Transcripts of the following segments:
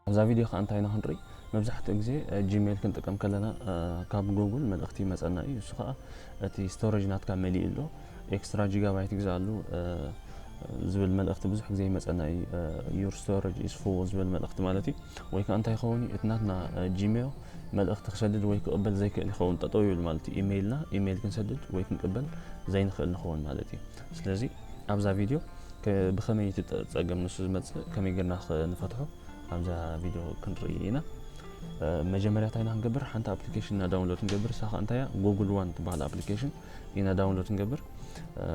ኣብዛ ቪድዮ ከኣ እንታይ ኢና ክንርኢ መብዛሕትኡ ግዜ ጂሜል ክንጥቀም ከለና ካብ ጎጉል መልእኽቲ ይመጸና እዩ እሱ ከኣ እቲ ስቶሬጅ ናትካ መሊኡ ኣሎ ኤክስትራ ጂጋባይት ግዛኣሉ ዝብል መልእኽቲ ብዙሕ ግዜ ይመጸና እዩ ዩር ስቶሬጅ ኢስ ፉል ዝብል መልእኽቲ ማለት እዩ ወይ ከዓ እንታይ ይኸውን እዩ እቲ ናትና ጂሜል መልእኽቲ ክሰድድ ወይ ክቕበል ዘይክእል ይኸውን ጠጠው ይብል ማለት እዩ ኢሜይልና ኢሜይል ክንሰድድ ወይ ክንቅበል ዘይንኽእል ንኸውን ማለት እዩ ስለዚ ኣብዛ ቪድዮ ብኸመይ እቲ ፀገም ንሱ ዝመፅእ ከመይ ጌርና ንፈትሖ ኣብዛ ቪድዮ ክንርኢ ኢና መጀመርያ እንታይ ኢና ክንገብር ሓንቲ ኣፕሊኬሽን ኢና ዳውንሎድ ክንገብር እሳ ከዓ እንታይ እያ ጉግል ዋን ትበሃል ኣፕሊኬሽን ኢና ዳውንሎድ ክንገብር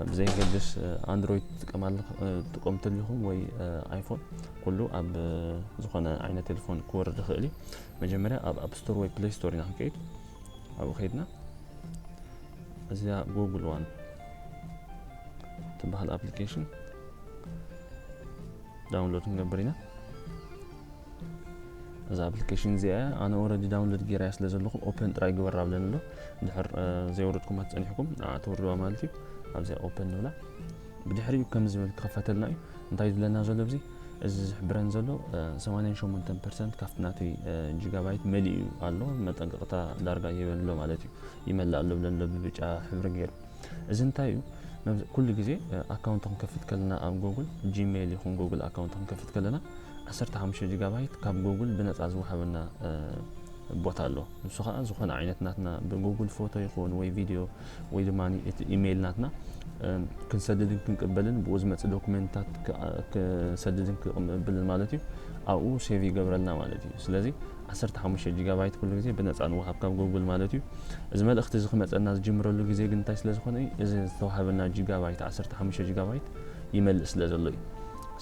ብዘይገድስ ኣንድሮይድ ትጥቀማሉ ትጥቀሙ እንተሊኹም ወይ ኣይፎን ኩሉ ኣብ ዝኾነ ዓይነት ቴሌፎን ክወርድ ይኽእል እዩ መጀመርያ ኣብ ኣፕ ስቶር ወይ ፕሌይ ስቶር ኢና ክንከይድ ኣብኡ ከይድና እዚኣ ጎግል ዋን ትበሃል ኣፕሊኬሽን ዳውንሎድ ክንገብር ኢና እዛ ኣፕሊኬሽን እዚኣ እያ ኣነ ኦረዲ ዳውንሎድ ጌራያ ስለ ዘለኹ ኦፐን ጥራይ ግበር ኣብለን ኣሎ ድሕር ዘይወረድኩም ኣትፀኒሕኩም ንዓ ተወርድዋ ማለት እዩ ኣብዚኣ ኦፐን ንብላ ብድሕሪኡ ከም ዝብል ክኸፈተልና እዩ እንታይ እዩ ዝብለና ዘሎ እዚ እዚ ዝሕብረን ዘሎ 88 ፐርሰንት ካብቲ ናተይ ጂጋባይት መሊኡ ኣሎ መጠንቀቕታ ዳርጋ ይህበን ኣሎ ማለት እዩ ይመልእ ኣሎ ብለን ኣሎ ብብጫ ሕብሪ ገይሩ እዚ እንታይ እዩ ኩሉ ግዜ ኣካውንት ክንከፍት ከለና ኣብ ጎግል ጂሜይል ይኹን ጎግል ኣካውንት ክንከፍት ከለና 15 ጂጋባይት ካብ ጎግል ብነፃ ዝወሃበና ቦታ ኣሎ ንሱ ከዓ ዝኾነ ዓይነት ናትና ብጉግል ፎቶ ይኹን ወይ ቪድዮ ወይ ድማ እቲ ኢሜይል ናትና ክንሰድድን ክንቅበልን ብኡ ዝመፅእ ዶክመንታት ክሰድድን ክቅብልን ማለት እዩ ኣብኡ ሴቭ ይገብረልና ማለት እዩ ስለዚ 15 ጂጋባይት ኩሉ ግዜ ብነፃ ንወሃብ ካብ ጎጉል ማለት እዩ እዚ መልእኽቲ እዚ ክመፀና ዝጅምረሉ ግዜ ግን እንታይ ስለ ዝኾነ እዩ እዚ ዝተዋሃበና ጂጋባይት 15 ጂጋባይት ይመልእ ስለ ዘሎ እዩ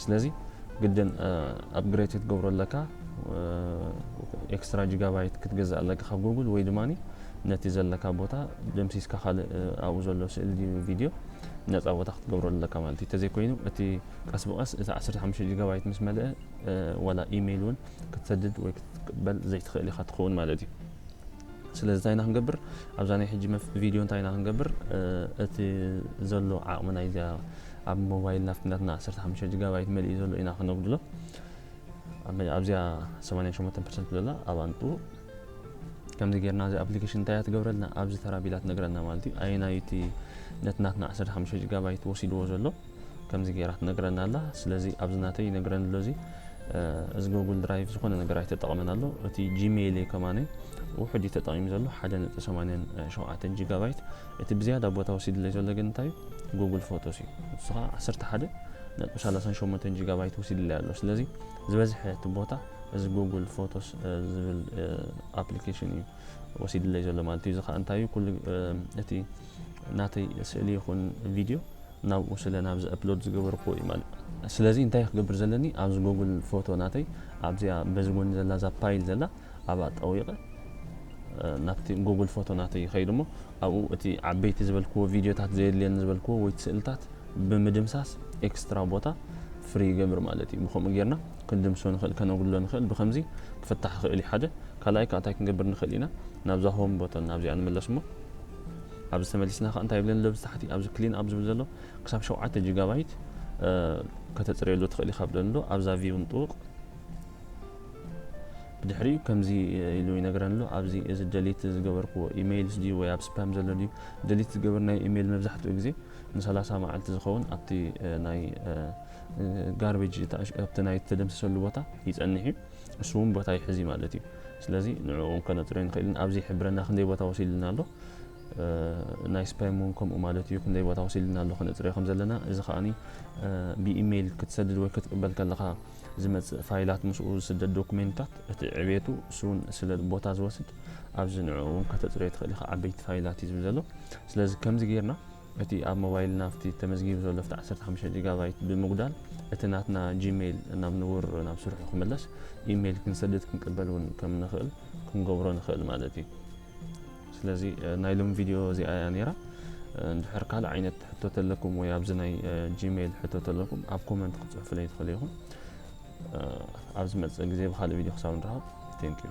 ስለዚ ግድን ኣፕግሬድ ክትገብሮ ኣለካ ኤክስትራ ጂጋባይት ክትገዛእ ኣለካ ካብ ጎጉል ወይ ድማ ነቲ ዘለካ ቦታ ደምሲስካ ካልእ ኣብኡ ዘሎ ስእሊ ድዩ ቪድዮ ነጻ ቦታ ክትገብሮ ኣለካ ማለት እዩ ተዘይኮይኑ እቲ ቀስ ብቀስ እቲ ዓሰርተ ሓሙሽተ ጂጋባይት ምስ መልአ ወላ ኢሜይል እውን ክትሰድድ ወይ ክትቅበል ዘይትኽእል ኢኻ ትኸውን ማለት እዩ ስለዚ እንታይ ኢና ክንገብር ኣብዛ ናይ ሕጂ ቪድዮ እንታይ ኢና ክንገብር እቲ ዘሎ ዓቕሚ ናይዚኣ ኣብ ሞባይል ናፍትናትና ዓሰርተ ሓሙሽተ ጂጋባይት መሊኡ ዘሎ ኢና ክነጉድሎ ኣብዚኣ ሰማንያ ሸሞንተ ፐርሰንት ዘላ ኣብኣ ንጥቡ ከምዚ ጌርና እዚ ኣፕሊኬሽን እንታይ እያ ትገብረልና ኣብዚ ተራ ቢላ ትነግረና ማለት እዩ ኣየናዩ እቲ ነቲ ናትና 15 ጂጋባይት ወሲድዎ ዘሎ ከምዚ ጌራ ትነግረና ኣላ ስለዚ ኣብዚ ናተይ ይነግረኒ ኣሎ እዚ እዚ ጎግል ድራይቭ ዝኾነ ነገር ኣይተጠቕመን ኣሎ እቲ ጂሜይል ከማነ ውሕድ እዩ ተጠቒሙ ዘሎ 1.87 ጂጋባይት እቲ ብዝያዳ ቦታ ወሲድለይ ዘሎ ግን እንታይ እዩ ጉግል ፎቶስ እዩ ንሱ ከዓ 11 ነጥቢ 38 ጂጋባይት ወሲድለይ ኣሎ ስለዚ ዝበዝሐ እቲ ቦታ እዚ ጎጉል ፎቶስ ዝብል ኣፕሊኬሽን እዩ ወሲድለይ ዘሎ ማለት እዩ። እዚ ከዓ እንታይ እዩ ኩሉ እቲ ናተይ ስእሊ ይኹን ቪድዮ ናብኡ ስለ ናብዚ ኣፕሎድ ዝገበርኩዎ እዩ ማለት እዩ። ስለዚ እንታይ ክገብር ዘለኒ ኣብዚ ጎጉል ፎቶ ናተይ ኣብዚኣ በዚ ጎኒ ዘላ እዛ ፓይል ዘላ ኣብኣ ጠዊቐ ናብቲ ጎጉል ፎቶ ናተይ ይኸይድ እሞ ኣብኡ እቲ ዓበይቲ ዝበልክዎ ቪድዮታት ዘየድልየኒ ዝበልክዎ ወይ ስእልታት ብምድምሳስ ኤክስትራ ቦታ ፍሪ ይገብር ማለት እዩ። ብከምኡ ጌርና ክንድምስሶ ንኽእል ከነጉድሎ ንኽእል ብኸምዚ ክፍታሕ ይኽእል እዩ ሓደ ካልኣይ ከኣ እንታይ ክንገብር ንኽእል ኢና ናብዛ ሆም ቦተን ናብዚኣ ንመለስ እሞ ኣብዚ ተመሊስና ከኣ እንታይ ይብለኒ ኣብዚ ታሕቲ ኣብዚ ክሊን ኣብ ዝብል ዘሎ ክሳብ ሸውዓተ ጂጋባይት ከተጽርየሉ ትኽእል ኢኻ ብለኒ ኣሎ ኣብዛ ቪው ንጥውቕ ብድሕሪኡ ከምዚ ኢሉ ይነግረን ኣሎ ኣብዚ እዚ ደሊት ዝገበርክዎ ኢሜይልስ ድዩ ወይ ኣብ ስፓም ዘሎ ድዩ ደሊት ዝገበርናዮ ኢሜይል መብዛሕትኡ ግዜ ን30 መዓልቲ ዝኸውን ኣብቲ ናይ ጋርቤጅ ኣብቲ ናይ እተደምሰሰሉ ቦታ ይጸንሕ እዩ፣ ንሱ እውን ቦታ ይሕዝ እዩ ማለት እዩ። ስለዚ ንዕኡ እውን ከነጽሮ ኣይንኽእልን። ኣብዚ ይሕብረና ክንደይ ቦታ ወሲድልና ኣሎ፣ ናይ ስፓም እውን ከምኡ ማለት እዩ፣ ክንደይ ቦታ ወሲድልና ኣሎ ከነጽርዮ ከም ዘለና። እዚ ከኣኒ ብኢሜይል ክትሰድድ ወይ ክትቅበል ከለኻ ዝመጽእ ፋይላት ምስኡ ዝስደድ ዶኩሜንታት እቲ ዕቤቱ እሱ እውን ስለ ቦታ ዝወስድ ኣብዚ ንዕኡ እውን ከተጽርዮ ትኽእል ኢኻ። ዓበይቲ ፋይላት እዩ ዝብል ዘሎ። ስለዚ ከምዚ ጌርና እቲ ኣብ ሞባይልና ኣብቲ ተመዝጊቡ ዘሎ ኣብቲ ዓሰርተ ሓሙሽተ ጂጋባይት ብምጉዳል እቲ ናትና ጂመይል ናብ ንቡር ናብ ስርሑ ክምለስ ኢመይል ክንሰድድ ክንቅበል እውን ከም ንኽእል ክንገብሮ ንኽእል ማለት እዩ። ስለዚ ናይ ሎም ቪድዮ እዚኣ እያ ነይራ። እንድሕር ካልእ ዓይነት ሕቶ ተለኩም ወይ ኣብዚ ናይ ጂመይል ሕቶ ተለኩም ኣብ ኮመንት ክትጽሕፉለይ ትኽእሉ ኢኹም። ኣብ ዝመጽእ ግዜ ብካልእ ቪድዮ ክሳብ ንረኸብ ቴንኪዩ።